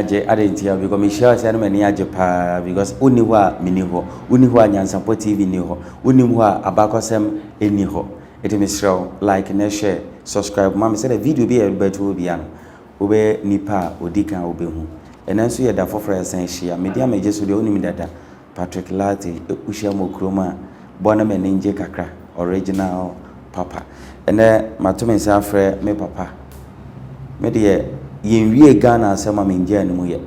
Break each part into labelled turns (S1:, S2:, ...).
S1: agye ade nti a because mehyia ɔsɛ ɛna m'ani agye paa because wonni hɔ a menni hɔ wonni hɔ a nyansapɔ tv nni hɔ wonni hɔ a abakɔsɛm nni hɔ ɛti mesrɛ wo like na share subscribe ma me sɛdeɛ video bi a yɛbɛto obiara no wobɛyɛ nipa a odi kan a wobehu. Ɛnnɛ nso yɛ da foforo a yɛsan ahyia. Mede a megye so deɛ wonim dada, Patrick Lartey, wohyia mo kurom a, bɔ na m'ani ngye kakra, original papa. Ɛnnɛ mato me nsa afrɛ me papa. Me deɛ, yɛnwiee Ghana asɛm a mengyaa ne mu yɛ.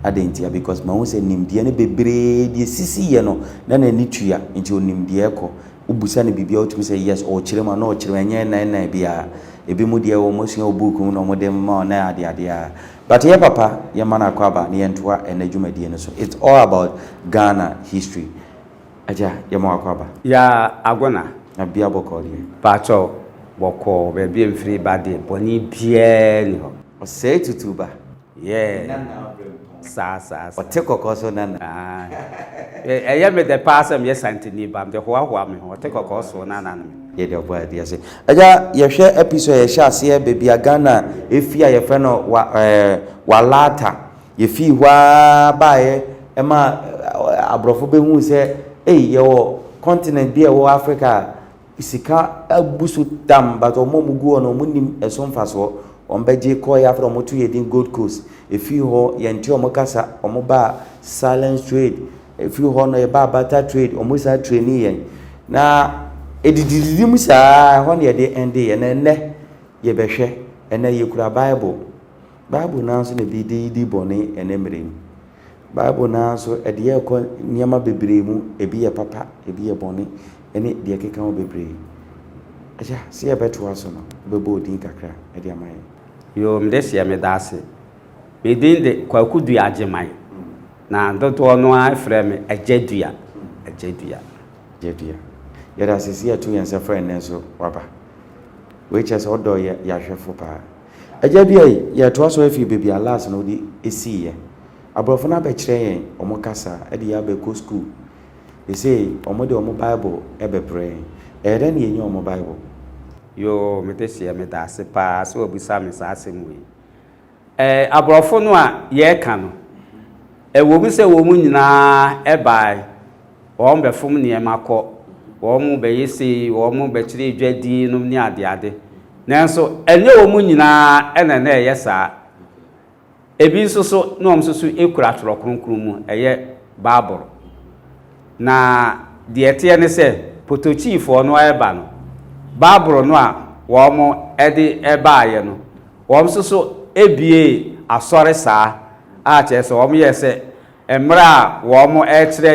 S1: Adɛn ntia? Because mahu sɛ nimdeɛ no bebree deɛ esisi yɛ no na n'ani tua, nti onim deɛ ɛkɔ. Wobisa no biribi a otumi sɛ yes, ɔrekyerɛ mu anaa ɔkyerɛ mu, ɛnyɛ nnan nnan biara. Ebinom deɛ wɔasua wɔ book mu na wɔde ma wɔn na ade ade a. But ɛyɛ papa, yɛmma no akwaaba na yɛntoa ɛnnɛ dwumadie no so. It's all about Ghana history. Agya, yɛma wo akwaaba. Yaa Agona.
S2: Na bia bɔkɔɔ
S1: deɛ. Paatwɔ
S2: bɔkɔɔ baabi a mfiri ba deɛ bɔne biara nni hɔ. Ɔsɛe tutuuba.
S1: Yeah
S2: saa saa saa. Ɔte kɔkɔ
S1: so nana. Aah
S2: ɛyɛ me dɛ paa sɛ meyɛ santini ba mede hoa hoa me ho ɔte kɔkɔ so nana no me. Yɛde ɔbɔ adeɛ
S1: ase. Agya yɛhwɛ episode a yɛhyɛ aseɛ baabi a Ghana ɛfiri a yɛfrɛ no wa ɛɛ Walaata. Yɛfiri hɔ ara baeɛ ɛma aborɔfo bɛhuu sɛ ei yɛwɔ continent bi a ɛwɔ Africa a Sika abu so tam but wɔn a wɔgu hɔ no wɔn nnim ɛso mfasoɔ. Wɔn bɛgye kɔɔ yɛ afra wɔn to yɛ din Gold Coast. Ɛfiri hɔ yɛnte wɔn kasa wɔn baa silence trade. Ɛfiri hɔ no yɛbaa barter trade wɔn san trainii yɛn. Na ɛdidididi mu saa ɛhɔ na yɛde ɛndeeɛ. Na ɛnnɛ yɛbɛhwɛ ɛnnɛ yɛkura bible. Bible no ara nso na ɛbi de yidi bɔne ɛnnɛ mmerɛ yi mu. Bible no ara nso, ɛde yɛn kɔ nneɛma bebree mu, ebi yɛ papa, ebi yɛ bɔne, ne deɛ ɛkeka ho bebree. Agya, sɛ yɛbɛtoa so no, wobɛbɔ wo din kakra de ama yɛn. Yoo, me deseɛ
S2: meda ase. Me din de Kwaku Dua Agyeman, na dodoɔ no ara frɛ me Agya Dua, Agya Dua. Agya Dua.
S1: Yɛda ase sɛ yɛato yɛn nsa frɛ nnɛ nso woaba. Wei kyerɛ sɛ wodɔ yɛn, yɛn ahwɛfo paa. Agya bi a yɛtoa so afi baabi a Lars no de siiɛ. Aborɔfo no abɛkyerɛ yɛn wɔn kasa de yɛn abɛkɔ sukuu. Seesei wɔde wɔn Bible bɛbrɛ yɛn. Ɛyɛ dɛn na yɛnya wɔn Bible? Yoo,
S2: me deseɛ, medaase paa sɛ wabisa me saa asɛm wei. Ɛɛ, aborɔfo no a yɛreka no, ɛwom sɛ wɔn nyinaa bae. Wɔn bɛfom nneɛma kɔ, wɔn bɛyɛ sei, wɔn bɛkyerɛ edwa din nom ne adeade. Nanso ɛnyɛ wɔn nyinaa na na ɛyɛ saa. Ebi nso so na wɔn nso so kura Twerɛ Kronkron mu, ɛyɛ Bible. Na deɛ ɛteɛ ne sɛ, Potokyiifoɔ no reba no, Bible no a wɔde baeɛ no, wɔn nso so buee asɔre saa a kyerɛ sɛ wɔyɛɛ sɛ Mmerɛ a wɔrekyerɛ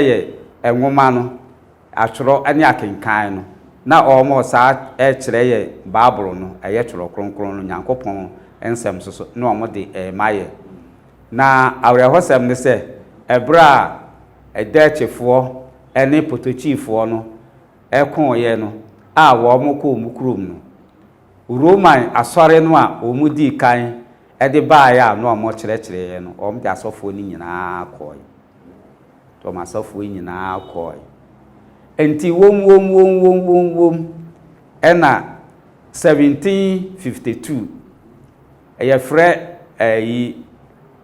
S2: yɛn nwoma no atwerɛ ne akenkan no, na wɔresan rekyerɛ yɛn Bible no, ɛyɛ Twerɛ Kronkron no, Nyankopɔn nsɛm nso so, na wɔde rema yɛn. Na awerɛhosɛm ne sɛ, ɛberɛ a Dɛɛkyefoɔ ne Potokyifoɔ no kooeɛ no a wɔkɔɔ wɔn kurom no, Roman asɔre no a wɔdii kan de baeɛ a na wɔkyerɛkyerɛeɛ no, wɔde asɔfoɔ no nyinaa kɔeɛ. Wɔn asɔfoɔ nyinaa kɔeɛ. Enti wom wom wom wom wom wom ɛna 1752 yɛfrɛ ɛyi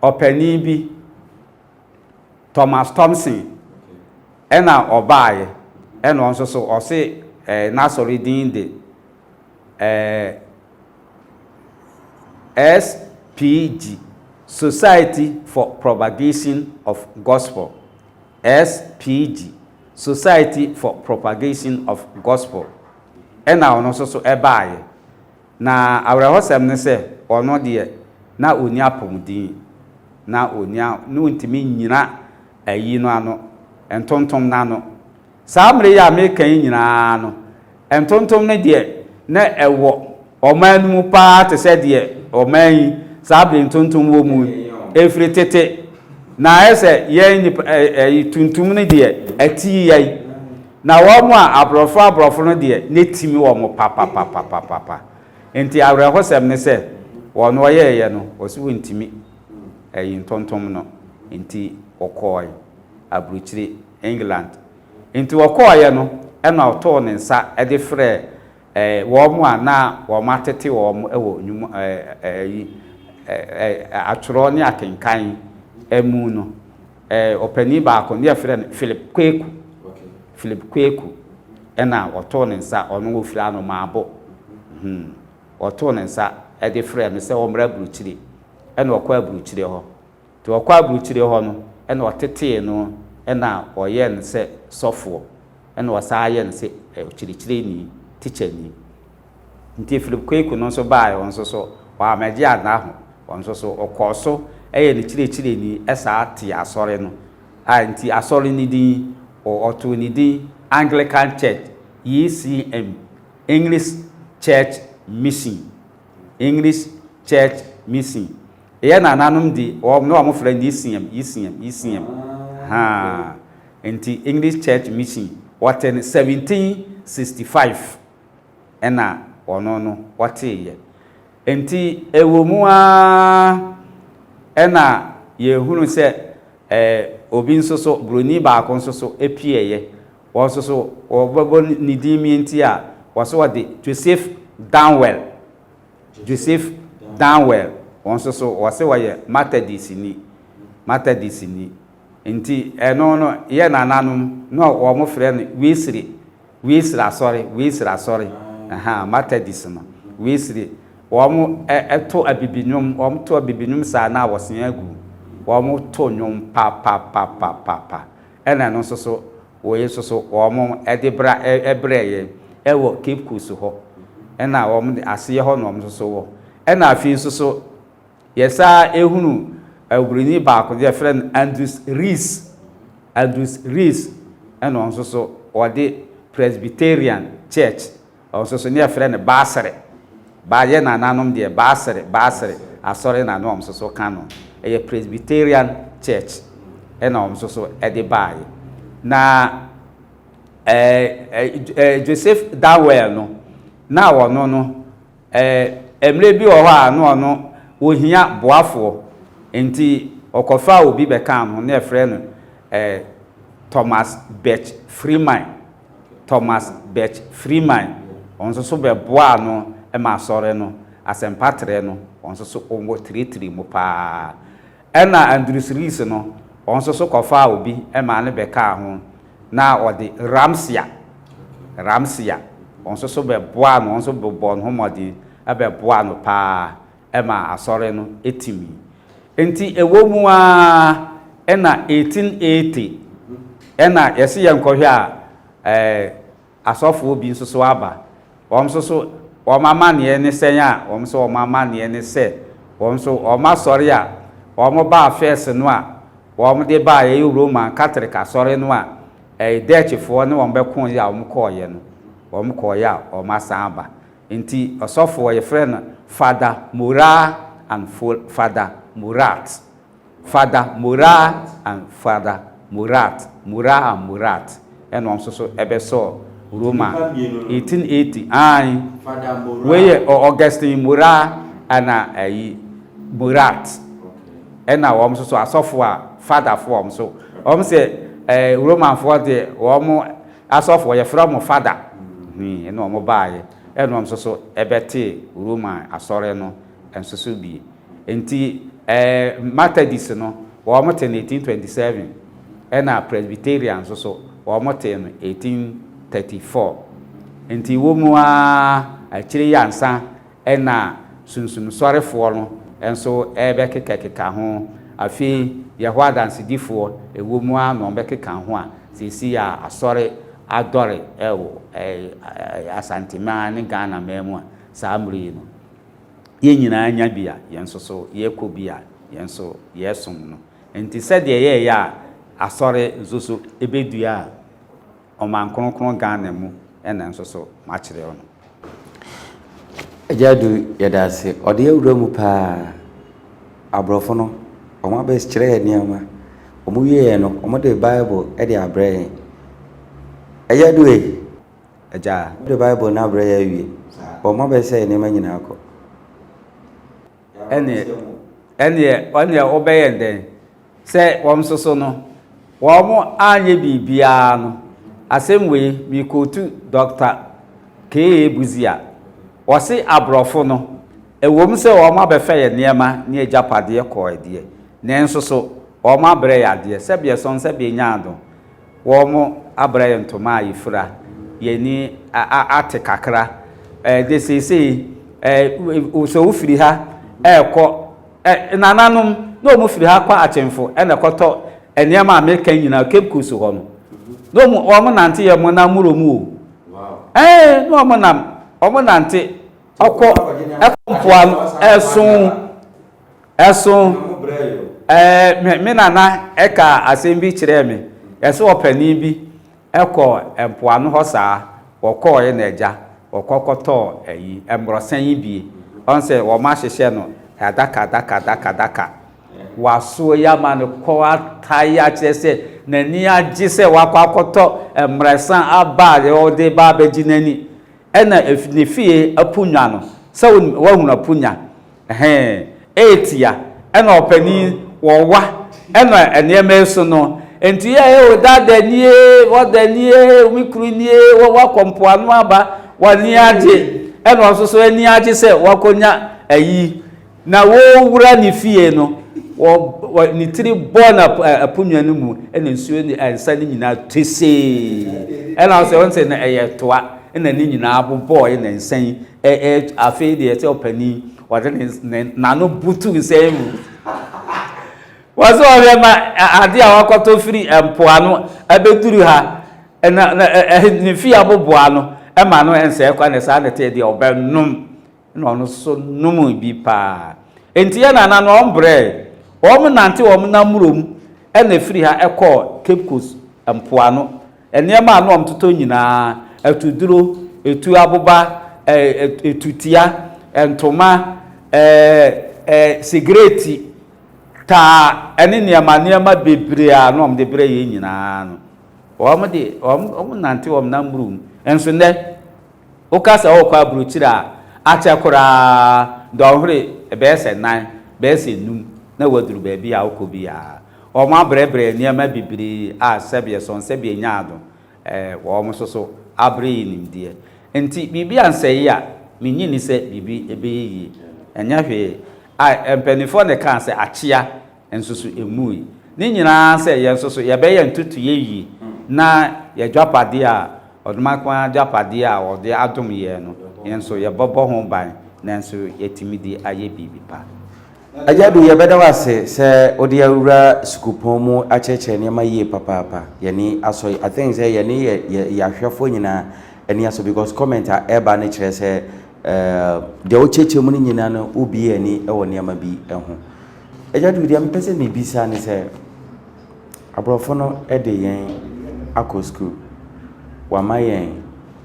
S2: ɔpanin bi Thomas Thompson ɛna ɔbaeɛ ɛna ɔno nso so ɔse ɛɛ n'asɔre din de ɛɛ. SPG, Society for Propagation of Gospel, SPG, Society for Propagation of Gospel, ɛna ɔno nso so ɛbaeɛ. Na awerɛhɔsɛm ne sɛ ɔno deɛ na ɔnni apɔmuden, na ɔnni, na ɔntumi nnyina ayi no ano, ntontom no ano, Saa mmere yi a mereka yi nyinaa no, ntontom no deɛ na ɛwɔ ɔman no mu paa te sɛ deɛ ɔman yi saa bere ntontom wɔ mu yi. Ɛfiri tete, na ayɛ sɛ yɛn nnipa ɛ, ɛ, tuntum no deɛ ɛte yɛn, na wɔn a aborɔfo aborɔfo no deɛ na ɛtim wɔn papapapapapa. Enti awerɛhosɛm ne sɛ, wɔn a wɔyɛeɛ no, wɔse wɔntumi ayi ntontom no, enti wɔkɔe aburukyire. England. Enti wɔkɔeɛ no na ɔtoo ne nsa de frɛɛ wɔn a na wɔatete wɔn wɔ atwerɛ ne akenkan mu no. Ɔpanin baako no yɛfrɛ no Philip Kweku. Philip Kweku na ɔtoo ne nsa, ɔno ɔfiri Anomaabo. Ɔtoo ne nsa de frɛɛ no sɛ ɔmmra Aburukyire. Ɛna ɔkɔɔ Aburukyire hɔ. Nti ɔkɔɔ aburukyire hɔ no na ɔtetee no na ɔyɛɛ no sɛ sɔfoɔ na ɔsan ayɛ no sɛ ɔkyerɛkyerɛni, tikyani. Nti Philip Kwaku no nso baaɛ ɔno nso so ɔammɛgye anna ho, ɔno nso so ɔkɔɔ so yɛ no kyerɛkyerɛni saa tee asɔre no a nti asɔre no din ɔtoo no din Anglican Church, ECM, English Church Mission, English Church Mission. Eyɛ na nanom di wɔn na wɔn frɛ Yisiam, Yisiam, Yisiam, haa, nti English Church Mission wɔte no 1765 ɛna wɔno no wɔtee yɛ, nti ɛwɔ mu aa ɛna yɛhunu sɛ ɛɛ obi nso so Broni baako nso so ɛpie yɛ, wɔn nso so wɔbɛbɔ ne din mie nti a wɔso wɔde Joseph Danwell Joseph Darnwell, wɔn nso so wɔse wɔyɛ Matadistni, Matadistni, nti ɛno no yɛ nananom no a wɔn frɛ no Wesley, Wesley asɔre, Wesley asɔre, ahaa, Matadist no, Wesley, wɔn to abibinwom, wɔn to abibinwom saa na wɔsea agu, wɔn to nwom papapapapapa. Ɛna ɛno nso so, wei nso so wɔde bra brɛɛ yɛn wɔ Cape Coast hɔ. Ɛna wɔn de aseɛ hɔ na wɔn nso so wɔ. Ɛna afei nso so, yɛsan hunu oburoni baako deɛ yɛfrɛ no Andrews Rees. Andrews Rees ɛna wɔn nso so wɔde Presbyterian Church Ɔsoso ne yɛfrɛ no Baasere, baa yɛ nananom deɛ Baasere, Baasere asɔre na ne wɔn soso ka no. Ɛyɛ Presbyterian church ɛna wɔn soso ɛde baaɛ. Na ɛɛ Joseph Darwell no na ɔno no ɛɛ ɛmmerɛ bi wɔ hɔ a na ɔno ɔhia boafoɔ nti ɔkɔfaa obi bɛkaa no ho ne yɛfrɛ no ɛɛ Thomas Birch Freeman. Thomas Birch Freeman, ɔno nso so bɛboaa no ma Asɔre no asɛmpa trɛ no, ɔno nso so wɔ tritri mu pa ara. Ɛna Andrews Rees no, ɔno nso so kɔfaa obi maa no bɛkaa ho, na ɔde Ramsea, Ramsea, ɔno nso so bɛboaa no, ɔno nso bɔɔ ne ho mmɔden bɛboaa no pa ara. maa asɔre no timii. Enti ɛwɔ mu ara na 1880 na yɛse yɛnkɔhwɛ a ɛɛ asɔfoɔ bi nso so aba. Wɔn nso so wɔn amanneɛ ne sɛn a, wɔn nso wɔn amanneɛ ne sɛ wɔn nso wɔn asɔre a wɔn baa first no a wɔn de baa ɛyɛ Roman Catholic asɔre no a ɛɛ Dutchfoɔ ne wɔn bɛkoeɛ a wɔn kɔeɛ no wɔn kɔeɛ a wɔn asan aba. Enti ɔsɔfo a wɔfrɛ no Father Moraa and Father Moraat, Father Moraa and Father Moraat, Moraa and Moraat, ɛna wɔn nso so bɛsɔɔ Roma 1880. Aane, wei yɛ Augustine Moraa ɛna ayi Moraat, ɛna wɔn nso so asɔfo a Fatherfoɔ wɔn nso wɔn sɛ Romanfoɔ deɛ wɔn. Asɔfoɔ, yɛfrɛ wɔn Father, hui na wɔbaeɛ, ɛna wɔn nso so bɛtee Roma asɔre no nso so bi. Enti ɛɛ Methodist no, wɔtee no 1827, ɛna Presbyterian nso so, wɔtee no 1834. Enti wɔ mu ara, akyire yi ansa, Ɛnna Sunsum Sɔrefoɔ no nso rebɛkekakeka ho. Afei Yehowa Adansedifoɔ, ɛwom ara na wɔbɛkeka ho a, seesei a Asɔre adɔre wɔ Asanteman ne Ghanaman mu a, saa mmerɛ yi no, yɛn nyinaa anya bi a yɛn nso so yɛkɔ bi a yɛn nso yɛsom no. Enti sɛdeɛ yɛreyɛ a Asɔre nso so bɛdua a, Ɔman Kronkron Ghana mu na nso so makyerɛ wo no. Agya
S1: Adu yɛda ase. Ɔde yɛ wura mu paa. Aborɔfo no, wɔn abɛs kyerɛ yɛn nneɛma. Wɔn wieɛ no, wɔn de Bible de abrɛ yɛn. Agya Adu ei! Agya. Wɔn de Bible no abrɛ yɛn awie. Wɔn abɛs sɛ yɛn nneɛma nyinaa kɔ. ɛnneɛ, ɛnneɛ, ɛnneɛ wɔbɛyɛ dɛn? Sɛ wɔn nso so no, wɔn anyɛ biribiara no, asɛm wei mekootu Dɔkta K.A. Busia, ɔse aborɔfo no, ɛwom
S2: sɛ wɔn abɛfa yɛn nneɛma ne agyapadeɛ kɔɔɛ deɛ, nanso so wɔn abrɛ yɛn adeɛ, sɛbeɛ sɔn, sɛbeɛ nyaado. Wɔabrɛ yɛn ntoma a yefura, yɛn ani ate kakra de seesei sɛ wofiri ha rekɔ Nananom na wɔfiri ha kɔ Akyemfo na ɛkɔtɔ nneɛma a meka yi nyinaa Cape Coast hɔ no. Na wɔnante yɛn mmonnaa mmorɔ mu o. Ɛɛ, na wɔnam, wɔnante kɔ mpoano, ɛso. Ɛso ɛɛ me me nana ɛka asɛm bi kyerɛɛ me. Ɛso ɔpanin bi ɛkɔ mpoano hɔ saa. Ɔkɔɔɛ na agya ɔkɔ kɔtɔɔ ɛyi mmorɔsan yi bie. Ɔn sɛ wɔn ahyehyɛ no adaka adaka adaka adaka. Wasoɔ yi ama no kɔ atae akyerɛ sɛ n'ani agye sɛ wakɔ akɔtɔ mmrɛsan aba a ɔde ba abɛgye n'ani. Ɛna ne fie apunya no sɛ wonim wahunu apunya. Ɛhee, eetia, ɛna ɔpanin, wɔwa, ɛna nneɛma yi so no, nti yɛ ee, o dada nie, wɔda nie, me kuru nie, wɔ wakɔ mpoano aba, w'ani agye, ɛna ɔno nso so ani agye sɛ wakɔnya ayi, na wɔrewura ne fie no, wɔ, wɔ ne tiri bɔɔ no ap, ɛ, aponnwa no mu, ɛna nsuo ne ɛ, nsa no nyinaa tesee, ɛna ɔsɛ, ɔnsɛ na ɛyɛ toa, ɛna ne nyinaa bobɔɔe na nsa yi Ɛ ɛ afei deɛ sɛ ɔpanin ɔde ne ne n'ano butu nsɛn mu wɔn sɛ ɔhwɛ ma ade a wakɔtɔ firi mpoano abɛduru ha na na ne fi aboboa no ma no nsɛe kwa na saa na ɛteɛ deɛ ɔbɛnom na ɔno so nom bi paa nti yɛ nana no wɔn brɛ wɔn nante wɔn namuro mu ɛna firi ha ɛkɔɔ Cape Coast mpoano. Nneɛma a na wɔtotɔ nyinaa, atuduro, etuo aboba, etutia, ntoma, sigareeti taa, ɛne nneɛma nneɛma bebree a na wɔde brɛ yɛn nyinaa no, wɔn de, wɔnante wɔn nan mmuru mu. Nso nnɛ, woka sɛ worekɔ aburokyire a, akyɛ koraa dɔnhwere bɛyɛ sɛ nan, bɛyɛ sɛ nnum na woaduru baabi a wokɔ biara. Wɔabrɛbrɛ nneɛma bebree a sɛbeɛ sɔn sɛbeɛ nyaado wɔ wɔn so so abre yi nimdeɛ. Nti biribi ansɛe a, mennye nni sɛ biribi bɛyɛ yie. Ɛnyɛ hwee. A mpaninfoɔ na ɛkaa sɛ akyea nso so ɛmmui. Ne nyinaa sɛ yɛn nso so yɛbɛyɛ ntotoeɛ yie na yɛadwapadeɛ a, ɔdomankoma adwapadeɛ a wɔde adom yɛn no, yɛn nso yɛbɛbɔ ho ban nanso yɛatumi de ayɛ biribi pa. Agyadu,
S1: yɛbɛda wo ase sɛ wode awura sukuupɔn mu akyerɛkyerɛ nneɛma yie papaapa. Yɛn ani asɔ. I think sɛ yɛne yɛ yɛ yɛ ahwɛfoɔ nyinaa ani asɔ because comment a ɛreba no kyerɛ sɛ ɛɛ deɛ wokyerɛkyerɛ mu no nyinaa no wobue ani wɔ nneɛma bi ho. Agyadu, deɛ mepɛ sɛ mebisa ne sɛ aborɔfo no de yɛn akɔ sukuu, wɔama yɛn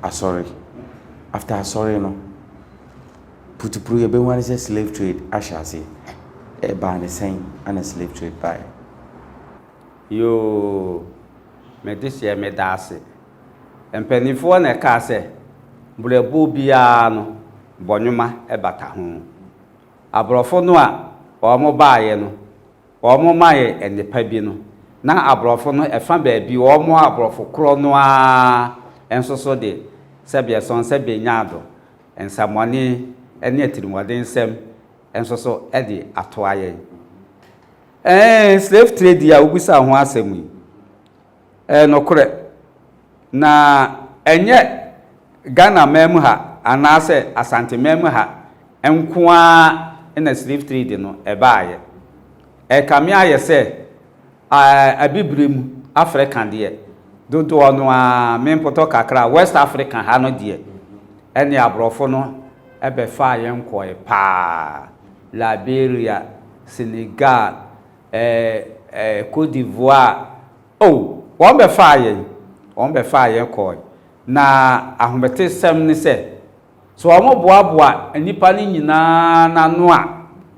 S1: asɔre, after asɔre no, Putupru yɛbɛhu ara sɛ slave trade ahyɛ ase. Ɛbaa no sɛn ana slave trade baeɛ? Yoo
S2: me deseɛ meda ase. Mpaninfoɔ na ɛkaa sɛ brɛboɔ biara no bɔnwoma bata ho. Abrɔfo no a wɔn baeɛ no wɔn maɛ nnepa bi no na abrɔfo no ɛfa baabi wɔn abrɔfo korɔ no ara nso so de sɛbeɛ sɔn sɛbeɛ nya ado. Nsɛmmɔne ne atirimuɔdensɛm nso so de atoa yɛn. Ɛɛ, slave trade a wobisaa ho asɛm yi, ɛyɛ nokorɛ. Na ɛnyɛ Ghana man mu ha anaasɛ Asante man mu ha nko ara na slave trade no ɛbaeɛ. Ɛkame ayɛ sɛ Ae Abibire mu Afrika deɛ dodoɔ no ara me mpotɔ kakra West Afrika ha no deɛ ɛne abrɔfo no bɛfaa yɛn nkɔɔɛ paa Liberia, Senegal, eh Cote d'Ivoire oh wɔn bɛfaa yɛn wɔn bɛfaa yɛn kɔɔɛ na ahometesɛm ne sɛ, So wɔboaboa nnipa no nyinaa no ano a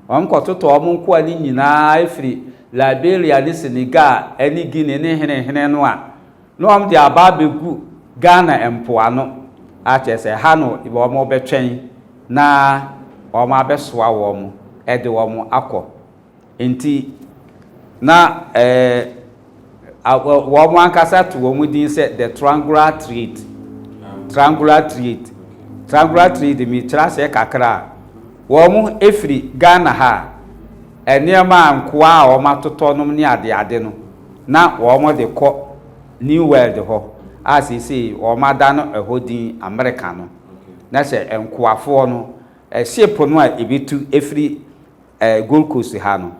S2: wɔkɔtotɔ wɔn nkoa no nyinaa firi Liberia ne Senegal ne Guinea ne henehene no a, na wɔde aba abɛgu Ghana mpoano a kyerɛ sɛ ha no wɔbɛtwɛn na wɔabɛsoa wɔn de wɔn akɔ. Enti, na wɔn ankasa to wɔn din sɛ The Trangular Triade. Trangular Triade. Trangular Triade, mekyerɛ aseɛ kakra a, wɔfiri Ghana ha a, nneɛma a nkoa a wɔatotɔ nom ne adeade no, na wɔde kɔ New World hɔ a seesei wɔada no ɛhɔ din Amerika no. Na sɛ nkoafoɔ no, ship no a ɛbɛtu firi eh, Gold Coast ha no,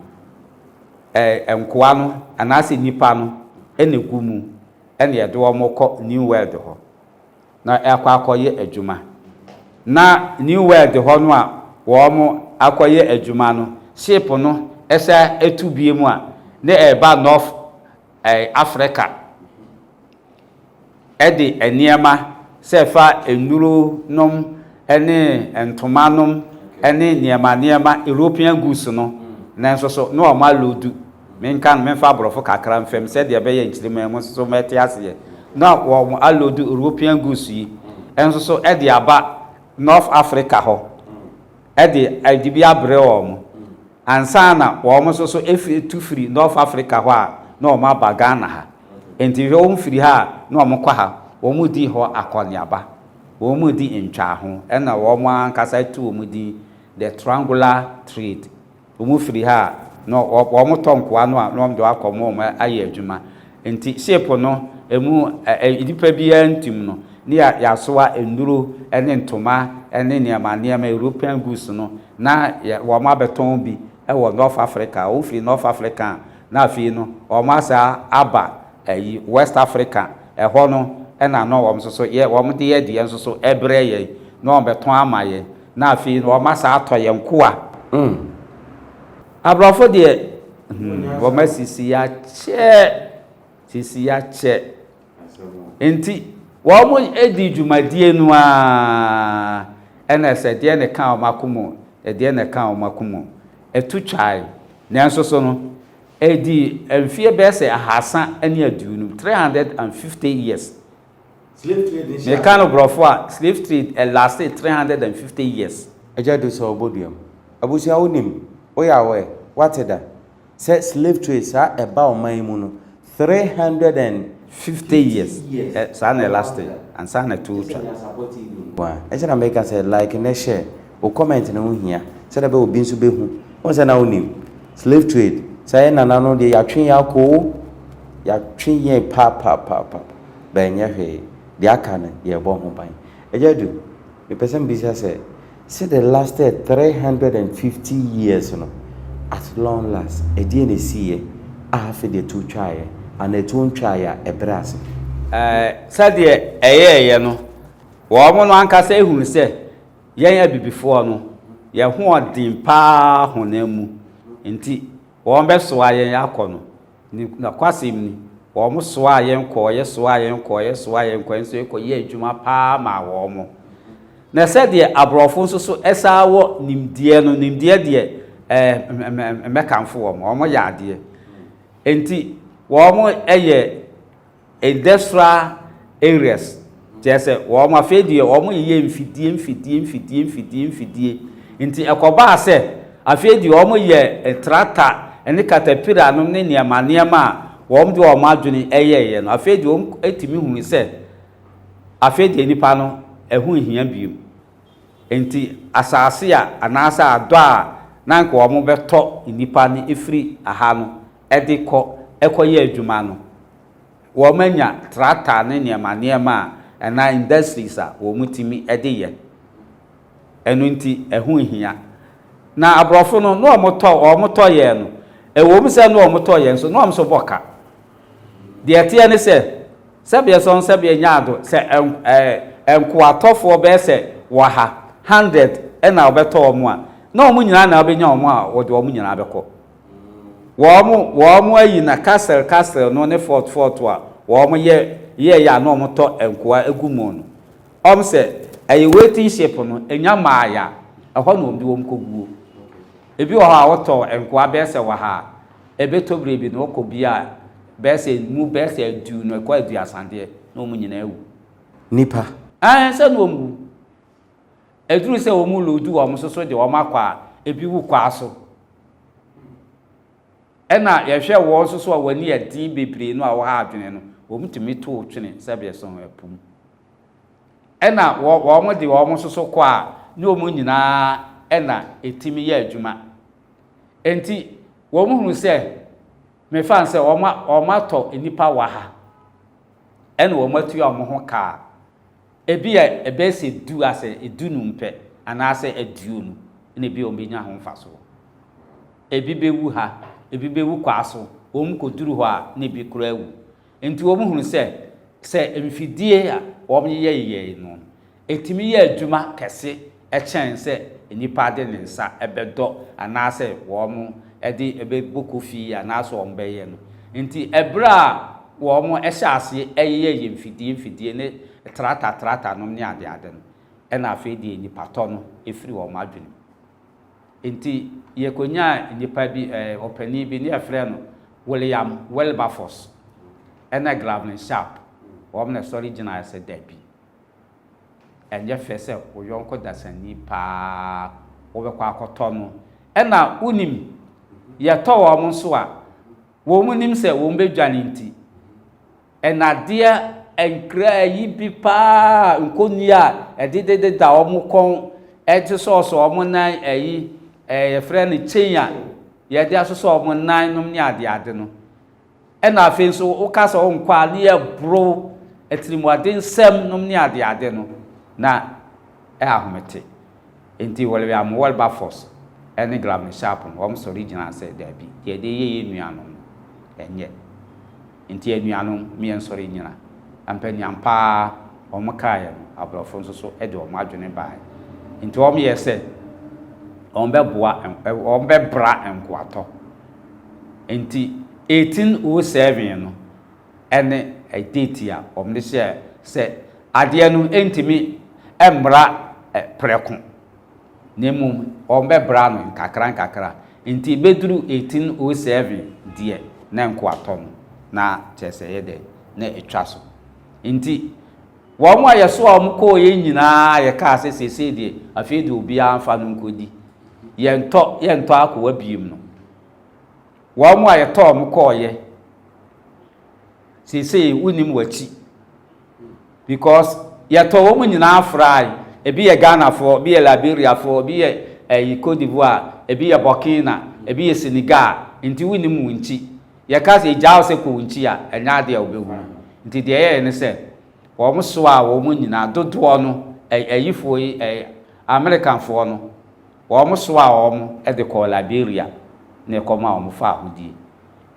S2: eh, nkoa no anaasɛ nnipa no na ɛgu mu na yɛde wɔn kɔ New World hɔ na ɛkɔ akɔyɛ adwuma. Na New World hɔ no a wɔn akɔyɛ adwuma no, ship no sɛ ɛtu bie mu a, na ɛreba North Afrika de nneɛma sɛ ɛfa nnuro nom ne ntoma nom ne nneɛma nneɛma, European goods no, nanso so na wɔn aloodu, menka no, memfa aborɔfo kakra mfa mu sɛdeɛ ɛbɛyɛ nkyirimma mu nso mɛte aseɛ, na wɔn aloodu European goods yi nso so de aba North Afrika hɔ. de dibea brɛ wɔn ansa na wɔn nso so firi tu firi North Africa hɔ a na wɔn aba Ghana ha. Nti hwɛ wɔn firi ha a na wɔn kɔ ha, wɔn dii hɔ akɔneaba, wɔn di ntwaaho ɛna wɔn ankasa tu wɔn din The Triangular Trade. Wɔn firi ha a, na wɔn tɔ nkoa no a na wɔn de wɔn akɔ wɔn ayɛ adwuma. Nti ship no ɛmu nnipa biara ntim no, na yɛasoa nnuro ne ntoma ne nneɛma nneɛma, European goods no, na wɔn abɛtɔn bi wɔ North Africa. Wɔn firi North Africa a, na afei no wɔn asan aba ɛyi West Africa, ɛhɔ no na na wɔn nso so yɛ wɔn de yɛ deɛ nso so ɛbrɛ yɛn, na wɔn bɛtɔn ama yɛn. Na afei no wɔma saa tɔ yɛn nkoa. Mm. Aborɔfo deɛ, hmm, wɔma sisi akyɛ. Sisi akyɛ. Nti, wɔn di dwumadie no ara ɛna ɛsɛ deɛ ne ka wɔn ako mu, deɛ ne ka wɔn ako mu. Ɛtu twae. Nanso so no, ɛdi mfeɛ bɛyɛ sɛ ahasa ne aduonum, 350 years. Meka no brɔfo a, slave trade lastee three hundred and fifty years. Agya du sɛ ɔbɔ
S1: dua mu. Abusua wo nim, wo yɛ aware, wate da, sɛ slave trade saa ɛba ɔman yi mu no three hundred and fifty
S2: years saa na ɛlastee ansa na ɛtoɔ twa. Nkoaa
S1: ɛnti na meka sɛ like ne share. Wo comment no ho hia sɛdeɛ ɛbɛyɛ a obi nso bɛhu. Wohu sɛ na wonim. Slave trade, saa yɛn nana no deɛ yɛatwe yɛn akɔ o. Yɛatwe yɛn papaapapa. But ɛnyɛ hwee. Deɛ aka no, yɛrebɔ ho ban. Agya Adu, mepɛ sɛ mebisa sɛ, sɛ the lasted three hundred and fifty years no, at long last, ɛdeɛn na ɛsiiɛ a afei deɛ ɛtu twaeɛ? Anaa ɛtuo ntwaeɛ a, ɛbrɛɛ ase?
S2: Sɛdeɛ ɛyɛeɛ no, wɔn no ankasa hunu sɛ Yɛn abibifoɔ no, yɛn hoɔden pa ara honam mu nti, wɔbɛsoa yɛn akɔ no. Nokwasɛm ni, wɔsoaa yɛn kɔɔ, yɛsoaa yɛn kɔɔ, yɛsoaa yɛn kɔɔ, nso yɛkɔyɛɛ adwuma pa ara maa wɔn. Na sɛdeɛ aborɔfo nso so saa wɔ nimdeɛ no, nimdeɛ deɛ, ɛɛ, mɛkamfo wɔn, wɔyɛ adeɛ. Enti wɔyɛ. Industria areas, kyerɛ sɛ wɔn afei deɛ wɔn yeyɛ mfidie mfidie mfidie mfidie mfidie nti ɛkɔbaa sɛ afei deɛ wɔn yɛ tractor ne caterpillar nom ne nneɛma nneɛma a wɔn de wɔn adwene ɛyɛɛyɛ no afei deɛ wɔn tumi hunu sɛ afei deɛ nipa no ɛho nhia bio nti asaase a anaasɛ adɔ a na nka wɔn bɛtɔ nipa no ɛfiri aha no de kɔ kɔyɛ adwuma no, wɔanya trakta ne nneɛma nneɛma a anaa industries a wɔtumi de yɛ. Ɛno nti, ɛho nhia. Na aborɔfo no, na wɔtɔ, wɔtɔ yɛn no, ɛwom sɛ na wɔtɔ yɛn nso, na wɔn nso bɔ ka. Deɛ ɛteɛ ne sɛ, sɛbeɛ sɔn sɛbeɛ nyaado, sɛ ɛɛ nkoatɔfoɔ bɛyɛ sɛ ɔha, hundred, na wɔbɛtɔ wɔn a, na wɔn nyinaa na wɔbɛnya wɔn a wɔde wɔn nyinaa bɛkɔ. Wɔn wɔn ayi na castle castle no ne fort fort a wɔn yɛ yɛ yɛ a na wɔn tɔ nkoa egu mu no wɔn sɛ ɛyɛ waiting ship no enya maa ya ɛhɔ na wɔn de wɔn kɔ guo ebi wɔ hɔ a wɔtɔ nkoa bɛyɛ sɛ wɔ ha a ebe tɔ bere bi na wɔkɔ bi a bɛyɛ sɛ mu bɛyɛ sɛ adu no ɛkɔ adu asadeɛ na wɔn nyinaa wu. Nipa.
S1: Ɛɛ sɛ na
S2: wɔn wu. Ɛduru sɛ wɔn loodu wɔn so so de wɔn akɔ a, ebi wu kwa so. Ɛna yɛhwɛ wɔn nso so a wɔn ani yɛ den bebree no a wɔha adwene no, wɔtumi tow twene sɛdeɛ so ɛpo mu. Ɛna wɔn de wɔn nso so kɔ a, ne wɔn nyinaa ɛna ɛtumi yɛ adwuma. Enti wɔn hunu sɛ, mefa no sɛ wɔn atɔ nnipa wɔ ha, ɛna wɔn atua wɔn ho ka a, Ebia ɛbɛyɛ sɛ du asɛ du num pɛ anaasɛ aduonu na ebia wɔbɛnya ho mfasoɔ. Ebi bɛwu ha, ebi bɛwu kwaa so, wɔn kɔduru hɔ a na ebi koraa awu. Enti wɔhunu sɛ, sɛ mfidie a wɔyeyɛyeyɛe no, ɛtumi yɛ adwuma kɛse kyɛn sɛ nnipa de ne nsa bɛdɔ anaasɛ wɔde bɛbɔ kofi anaasɛ wɔbɛyɛ no. Enti bere a wɔhyɛɛ aseɛ yeyɛɛ yɛn mfidie mfidie ne trata tratanom ne adeade no, ɛnna afei deɛ nnipa-tɔ no firii wɔn adwenem. Enti yɛkɔnyaa nnipa bi, ɔpanin bi, na yɛfrɛɛ no William Wilberforce ne Glavin Sharp, wɔn na ɛsɔre gyinaeɛ sɛ dabi. ɛnyɛ fɛ sɛ wo yɔnko dasani paa wobɛkɔ akɔtɔ no ɛna wonim yɛtɔ wɔn nso a wɔn nim sɛ wɔn bɛdwane nti ɛnadeɛ nkra yi bi paa nkɔni a ɛde dededa wɔn kɔn ɛde sɔɔsɔ wɔn nan ɛyi ɛyɛfrɛ no chain a yɛde asosɔ wɔn nan nom ne adeade no Ɛna afei nso woka sɛ ɔnkɔ a ne yɛboro atirimuadensɛm nom ne adeade no na ɛyɛ ahomete. Enti William Wilberforce ne Glavine Sharp no wɔsɔre gyinaa sɛ daabi, deɛ ɛde yɛ yɛn nuanom no ɛnyɛ. Enti anuanom mo yɛnsɔre nnyina ɛmpɛ nea ampa ara wɔn kaeɛ no aborɔfo nso so de wɔn adwene baeɛ. Enti wɔyɛɛ sɛ wɔbɛboa wɔbɛbra nkoatɔ. Ntsi eighteen oh seven no ne date a wɔde hyɛɛ sɛ adeɛ no ntumi mmra prɛko na mmom wɔbɛbra no nkakra nkakra. Ntsi bɛduru eighteen oh seven deɛ na nkoatɔ no na kyerɛ sɛ ɛyɛ dɛn, na atwa so. Ntsi. Wɔn a yɛsoaa wɔn kɔeɛ nyinaa a yɛkaa sɛ, 'Seesei deɛ, afei deɛ obiara mfa no nkɔdi. Yɛntɔ, yɛntɔ akoa bio no, wɔn a yɛtɔɔ wɔn kɔeɛ, seesei wonnim wɔn akyi. Because yɛtɔɔ wɔn nyinaa frae. Ebi yɛ Ghanafoɔ, ebi yɛ Liberiafoɔ, ebi yɛ ɛyi Cote d'Ivoire, ebi yɛ Burkina, ebi yɛ Senegal, enti wonnim wɔn akyi. Yɛka sɛ egya wo sɛ kɔ wo nkyi a, ɛnyɛ adeɛ a wobɛhunu. Nti deɛ ɛyɛeɛ ne sɛ, wɔn soaa wɔn nyinaa, dodoɔ no, ɛ, ayifoɔ yi, ɛ, Amerikafoɔ no, wɔn soaa wɔn de kɔɔ Liberia na ɛkɔmaa wɔn faa ahodie.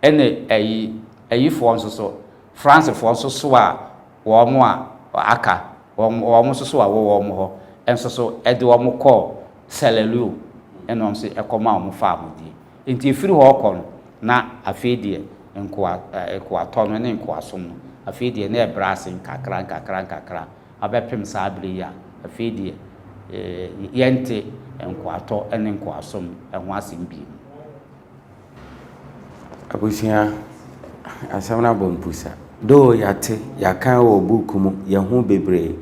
S2: Ɛna ayi, ayifoɔ nso so, Fransefoɔ nso soaa wɔn a aka, wɔn, wɔn nso so a ɛwɔ wɔn hɔ nso so de wɔn kɔɔ Sierra Leone na wɔn nso kɔmaa wɔn faa ahodie. Enti ɛfiri hɔ rekɔ no, na afei deɛ nkoa, nkoatɔ no ne nkoasom no, afei deɛ na ɛbrɛ ase nkakra nkakra nkakra abɛpem saa berɛ yi a afei deɛ eh, yɛnte nkoatɔ ne nkoasom ho asɛm bio.
S1: Abusua, asɛm no abɔ mpusa. Though yɛate, yɛaka wɔ book mu, yɛahu bebree,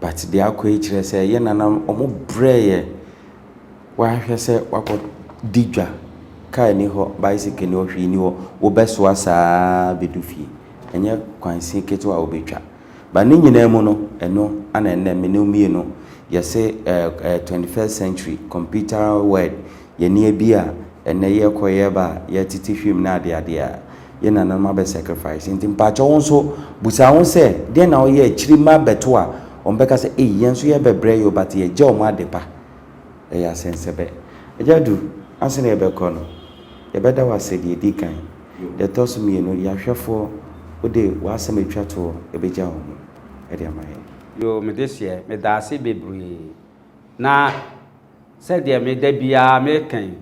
S1: but deɛ akɔ yi kyerɛ sɛ yɛn nananom wɔbrɛɛ yɛn. W'ahwɛ sɛ wakɔ di dwa, car nni hɔ, bicycle nni hɔ, hwee nni hɔ, wo bɛ soa saa bɛ du fie. Ɛnyɛ kwansin ketewa a wo bɛ twa. But ne nyinaa mu no, ɛno ana ɛnnɛ me ne wo mmienu yɛ se eh eh twenty first century computer world, yɛn nneɛ bi a ɛnnɛ yɛ kɔ yɛ ba a, yɛ tete hwim ne adeade a, Yɛn nananom abɛ sacrifice nti mpakyɛw wo nso busa ho sɛ deɛn na woyɛ akyiri mma abɛto a wɔn bɛka sɛ ei yɛn nso yɛ bɛbrɛ yi o but yɛ gya wɔn adepa ɛyɛ asɛnsɛbɛ. Agya Adu ansa na yɛ bɛ kɔ no yɛ bɛ da wo ase deɛ ɛdi kan deɛ ɛtɔ so mmienu yɛ ahwɛfoɔ wo de w'asɛm atwa toɔ ɛbɛ gya wɔn ho ɛde ama yɛn. Yoo me deseɛ
S2: me daase bebree na sɛdeɛ me da biara me ka yi.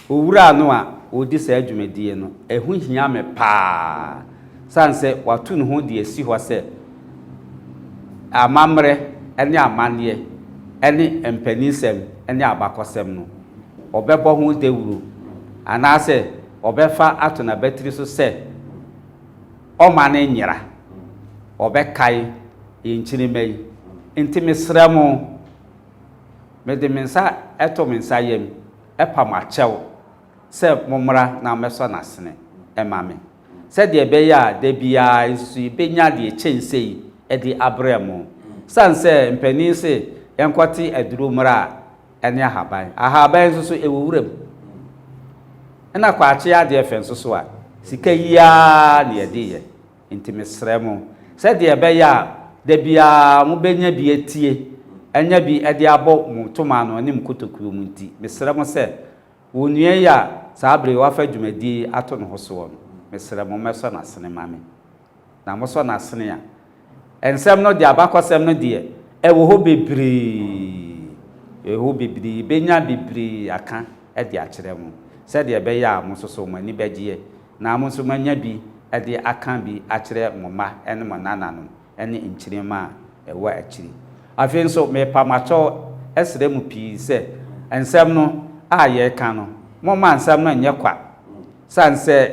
S2: Owura no a ɔredi saa dwumadie no, ɛho hia me pa ara sane sɛ wato ne ho de asi hɔ sɛ amammerɛ ne amanneɛ ne mpaninsɛm ne abakɔsɛm no, ɔbɛbɔ ho dawuro anaasɛ ɔbɛfa ato n'abatiri so sɛ ɔmma no nyera, ɔbɛkae yɛn nkyirimma yi. Nti mesrɛ mo. Mede me nsa to me nsa yam pa mo akyɛw sɛ mommra na mɛsɔ no asene mma me, sɛdeɛ ɛbɛyɛ a da biara nso yɛbɛnya deɛ ɛkyɛn sei de abrɛ mo. Ɛsiane sɛ mpanin se yɛnkɔte aduro mmra a, ɛne ahaban. Ahaban nso so, ɛwɔ wuram. Ɛna kwakye adeɛ fɛ nso so a, sika yi ara na yɛde yɛ. Enti mesrɛ mo, sɛdeɛ ɛbɛyɛ a da biara mobɛnya bi atie, anya bi de abɔ mo toma ano ne mo kotokuo mu nti, mesrɛ mo sɛ, wo nua yi a saa berɛ yi wɔafa dwumadie yi ato ne ho soɔ no, mesrɛ mo mmɛsɔ n'asene ma me. Na mosɔ n'asene a, nsɛm no deɛ, abakɔsɛm no deɛ, ɛwɔ hɔ bebree, ɛwɔ hɔ bebree, yɛbɛnya bebree aka de akyerɛ mo, sɛdeɛ ɛbɛyɛ a mo nso so mo ani bɛgyeɛ Na mo nso moanya bi de aka bi akyerɛ mo mma ne mo nnananom ne nkyirimma a ɛwɔ akyiri. Afei nso, merepa mo akyɛw srɛ mo pii sɛ, nsɛm no a yɛreka no, momma nsɛm no nyɛ kwa. Esiane sɛ,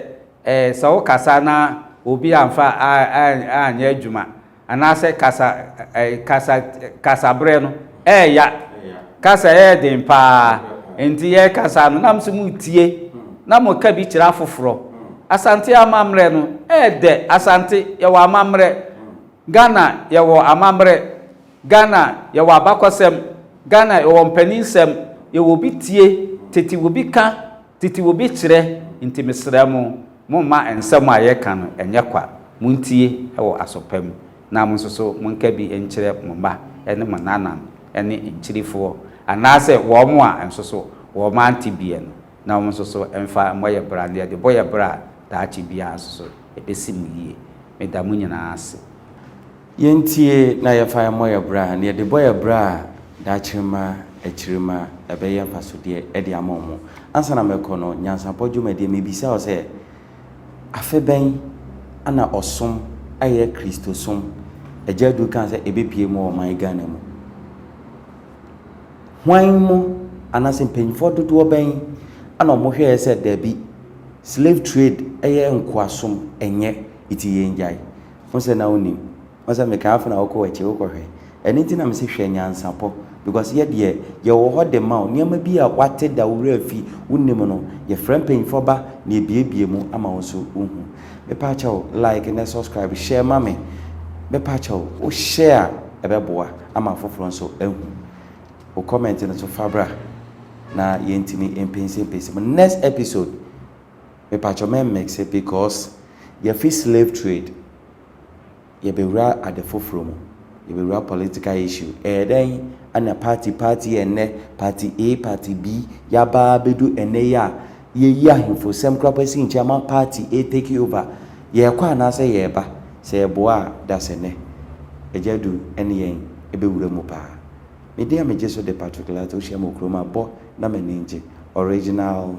S2: sɛ wokasa na obi amfa anyɛ adwuma Anaasɛ kasa ɛɛ kasa kasa berɛ no ɛɛya kasa ɛyɛ den paa nti yɛɛkasa no na mo nso mo retie na mo reka bi kyerɛ afoforɔ Asante amammerɛ no ɛɛdɛ Asante yɛwɔ amammerɛ Ghana yɛwɔ amammerɛ Ghana yɛwɔ abakɔsɛm Ghana yɛwɔ mpaninsɛm yɛwɔ obi tie tete obi ka Tete obi kyerɛ, Nti mesrɛ mo, momma nsɛm a yɛka no nyɛ kwa, montie wɔ aso pa mu, na mo nso so monka bi nkyerɛ mo mma ne mo nnanam ne nkyirefoɔ, anaasɛ wɔn a nso so wɔn ante biɛ no, na wɔn nso so mfa mmɔ yɛ bra, na yɛde bɔ yɛ bra a, daakye biara nso so ɛbɛsi mo yie. Meda mo nyinaa ase. Yɛntie
S1: na yɛfa mmɔ yɛn bra, na yɛde bɔ yɛn bra a, daakye ma akyiri ma ɛbɛyɛ mfasodeɛ de ama wɔn. Ansa na mɛkɔ no, Nyansapɔ Dwumadie, mebisa wo sɛ, Afe bɛn na ɔsom ayɛ Kristosom? Agya Adu kaa sɛ ɛbɛpue mu wɔ ɔman Ghana mu. Hwan mu anaasɛ mpanyinfoɔ dodoɔ bɛn na wɔhwɛeɛ sɛ daabi, slave trade yɛ nkoasom, ɛnyɛ, nti yɛngyae. Wo sɛ na wo nim. Wo sɛ me kaa fona wo kɔ wakyi wo kɔ hwɛ ɛno nti na me se hwɛ nyansapɔ because yɛ deɛ yɛ wɔ hɔ de ma wo nneɛma bi a wate da wo wura fi wo nim no yɛ frɛ mpanyinfoɔ ba na yɛ bie bie mu ama wo nso wo hu me pa kyɛw like ne subscribe share ma me me pa kyɛw wo share a ɛbɛ boa ama afoforɔ nso ahu wo comment no so fa bra na yɛ ntimi mpɛnsi mpɛnsi mu next episode. Mepakyɛ mɛ mmixe because yɛfi slave trade yɛbɛwura ade foforɔ mu, yɛbɛwura political issue. Ɛyɛ dɛn na party party ɛnnɛ, party A, party B, yɛaba abɛdu ɛnnɛ yi a yɛyi ahemfo sɛm koraa pɔ asi nkyɛn ama party A take over. Yɛrekɔ anaasɛ yɛreba? Sɛ yɛboa a da sɛ nnɛ Agya Adu ne yɛn bɛwura mu paa. Me deɛ megye so de Patrick Lartey wohyia me wɔ kurom a bɔ na m'ani ngye. Original.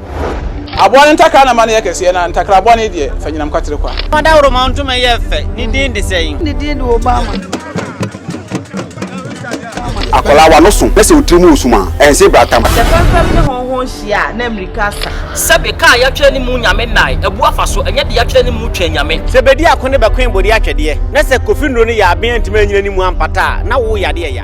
S3: Aboa no
S4: ntakra na ma no yɛ kɛseɛ, na ntakra bɔne deɛ, fa nyinam kwatere kwa. Fa dawuroma ntoma yɛ
S5: fɛ, ne din de sɛn? Ne din de
S3: Obama.
S4: Akwadaa w'ano so na sɛ wo tiri mu resum a, ɛnse brata ma. Sɛ fɛmfɛm ne
S6: hɔnhɔn hyia a, na mmirika asa. Sɛbe kaa a yɛatwerɛ
S5: ne mu Nyame nnae, abu afa so, ɛnyɛ de yɛatwerɛ ne mu Twɛn Nyame. Sɛ bedi ako ne bɛkoe
S7: bode atwɛdeɛ, na sɛ kofi nnuro ne yaaben antumi annyina ne mu ampata a, na wo yadeɛ ya.